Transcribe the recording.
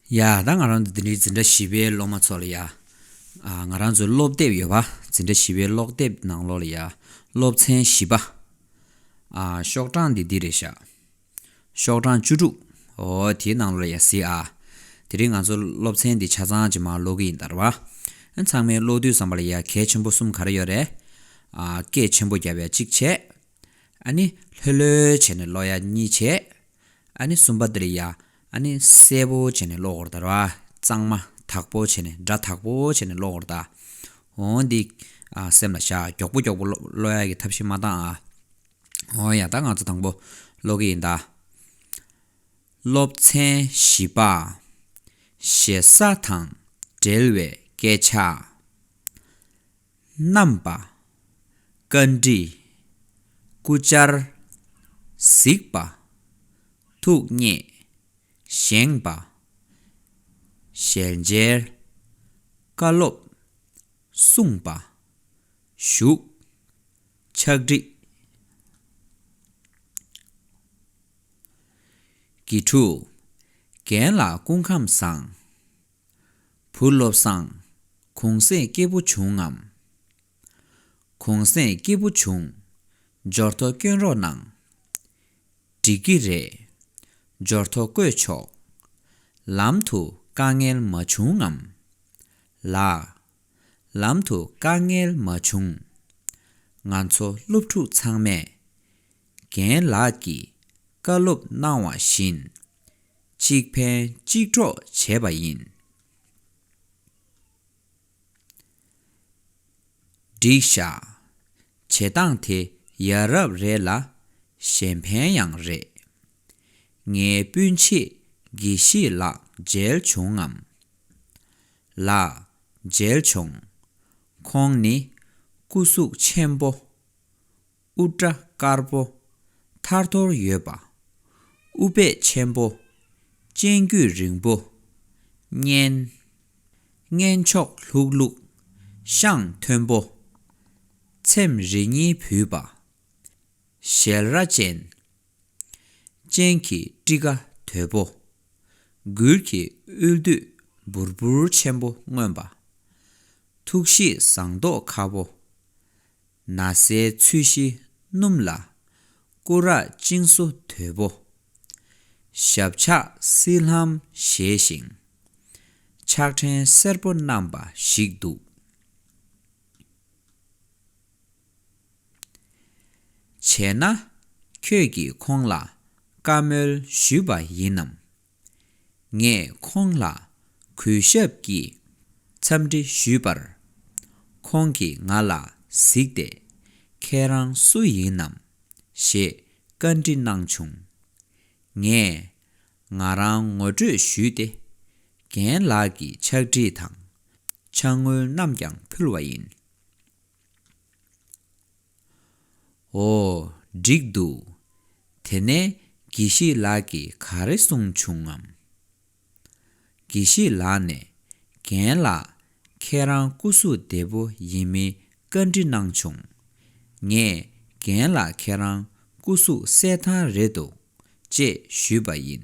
ཡ། ད་ང་རང་ཚོ་འདི་འདྲའི་འཛིན་གྲྭ་བཞི་པའི་སློབ་མ་ཚོ་ལ་ཡ། ང་རང་ཚོའི་སློབ་དེབ་ཡོད་པ། འཛིན་གྲྭ་བཞི་པའི་སློབ་དེབ་ནང་ལོགས་ལ་ཡ། སློབ་ཚན་བཞི་པ། ཤོག་གྲངས་འདི་འདི་རེད་བཞག། ཤོག་གྲངས་བཅུ་དྲུག། འོ། དེའི་ནང་ལོགས་ལ་ཡ་གཟིགས་ཨ། དེ་རིང་ང་ཚོ་སློབ་ཚན་འདི་ཆ་ཚང་ཇེ་མང་ཀློག་གི་ཡིན་དར་བ། ཚང་མའི་ཀློག་དུས་བསམ་པ་ལ་ཡ། གལ་ཆེན་པོ་གསུམ་ག་རེ་ཡོད་རེད། སྐད་ཆེན་པོ་བརྒྱབ་ཡ་གཅིག་བྱས། ཨཱ་ནི། ལྷོད་ལྷོད་བྱས་ནས་གློག་ཡ་གཉིས་བྱས། ཨཱ་ནི། གསུམ་པ་འདིར་ཡ། ཨཱ་ནི། གསལ་པོ་བྱས་ནས་གློག་འོར་བལྟ། གཙང་མ། དག་པོ་བྱས་ནས་སྒྲ་དག་པོ་བྱས་ནས་གློག་འོར་བལྟ། ཨོ། འདི། སེམས་ལ་བཞག་མགྱོགས་པོ་མགྱོགས་པོ་གློག་ཡ་གི་ཐབས་ཤེས་མ་བཏང་ཨ། ཨོ། ཡ་ད་ང་ཚོ་དང་པོ་ཀློག་གི་ཡིན་ད། སློབ་ཚན་བཞི་པ། ཞེ་ས་དང་འབྲེལ་བའི་སྐད་ཆ། བསྣམས་པ། བཀའ་འདྲི། སྐུ་བཅར། གཟིགས་པ། ཐུགས་བརྙེས། བཞེངས་པ། ཞལ་མཇལ། བཀའ་སློབ། གསུངས་པ། བཞུགས། ཕྱག་བྲིས། ཀྱི་གྲུ། རྒན་ལགས་སྐུ་ཁམས་བཟང། བུ་བློ་བཟང། གུང་གསེང་སྐྱེས་བུ་བྱུང་ངམ། གུང་གསེང་སྐྱེས་བུ་བྱུང། འབྱོར་ཐོ་བསྐྱོན་རོགས་གནང། འགྲིག་གི་རེད། འབྱོར་ཐོ་བཀོད་ཆོག། ལམ་དུ་དཀའ་ངལ་མ་བྱུང་ངམ། ལགས། ལམ་དུ་དཀའ་ངལ་མ་བྱུང། ང་ཚོ་སློབ་ཕྲུག་ཚང་མས། རྒན་ལགས་ཀྱིས་བཀའ་སློབ་གནང་བ་བཞིན། གཅིག་ཕན་གཅིག་གྲོགས་བྱས་པ་ཡིན། སྒྲིག་བཤགས་བྱེད་སྟངས་དེ་ཡ་རབས་རེད་ལ་གཞན་ཕན་ཡང་རེད། ངའི་སྤུན་མཆེད་དགེ་བཤེས་ལགས་མཇལ་བྱུང་ངམ། ལགས། མཇལ་བྱུང། ཁོང་ནི་སྐུ་གཟུགས་ཆེན་པོ། དབུ་སྐྲ་དཀར་པོ་ཐར་ཐོར་ཡོད་པ། དབུ་སྦད་ཆེན་པོ་སྤྱན་དཀྱུས་རིང་པོ། སྙན། སྔན་ཕྱོགས་ལྷུག་ལྷུག་ཤངས་མཐོན་པོ། ཚེམས་རེ་གཉིས་བུས་པ། ཞལ་ར་ཅན། སྤྱན་གྱི་སྤྲི་ཀ་དོད་པོ། མགུལ་གྱི་དབུས་བདུད་འབུར་འབུར་ཆེན་པོ་མངོན་པ། ཐུགས་གཤིས་བཟང་མདོག་ཁ་བོ། ན་བཟའི་ཚུལ་བཞི་སྣུམ་ལ། སྐུ་རགས་བཅིངས་སོ་དོད་པོ། ཞབས་ཕྱག་བསིལ་ལྷམ་བཞེས་ཤིང། ཕྱག་ཕྲེང་སེར་པོ་བསྣམས་པ་ཞིག་འདུག། བྱས་ན། ཁྱོད་ཀྱིས་ཁོང་ལ་བཀའ་མོལ་ཞུས་པ་ཡིན་ནམ། ངས་ཁོང་ལ་གུས་ཞབས་ཀྱིས་འཚམས་འདྲི་ཞུས་པར། ཁོང་གིས་ང་ལ་གཟིགས་ཏེ། ཁྱེད་རང་སུ་ཡིན་ནམ། ཞེས་བཀའ་འདྲི་གནང་བྱུང། ངས་ང་རང་ངོ་སྤྲོད་ཞུས་ཏེ། རྒན་ལགས་ཀྱི་ཕྱག་བྲིས་དང་ཕྱག་དངུལ་རྣམས་ཀྱང་ཕུལ་བ་ཡིན། ཨོ། འགྲིག་འདུག། དེ་ནས་དགེ་བཤེས་ལགས་ཀྱིས་ག་རེ་གསུངས་བྱུང་ངམ། དགེ་བཤེས་ལགས་ནས། རྒན་ལགས། ཁྱེད་རང་སྐུ་གཟུགས་བདེ་པོ་ཡིན་མིན་བཀའ་འདྲི་གནང་བྱུང། ངས་རྒན་ལགས་ཁྱེད་རང་སྐུ་གཟུགས་གསལ་ཐང་རེད་འདུག་ཅེས་ཞུས་པ་ཡིན།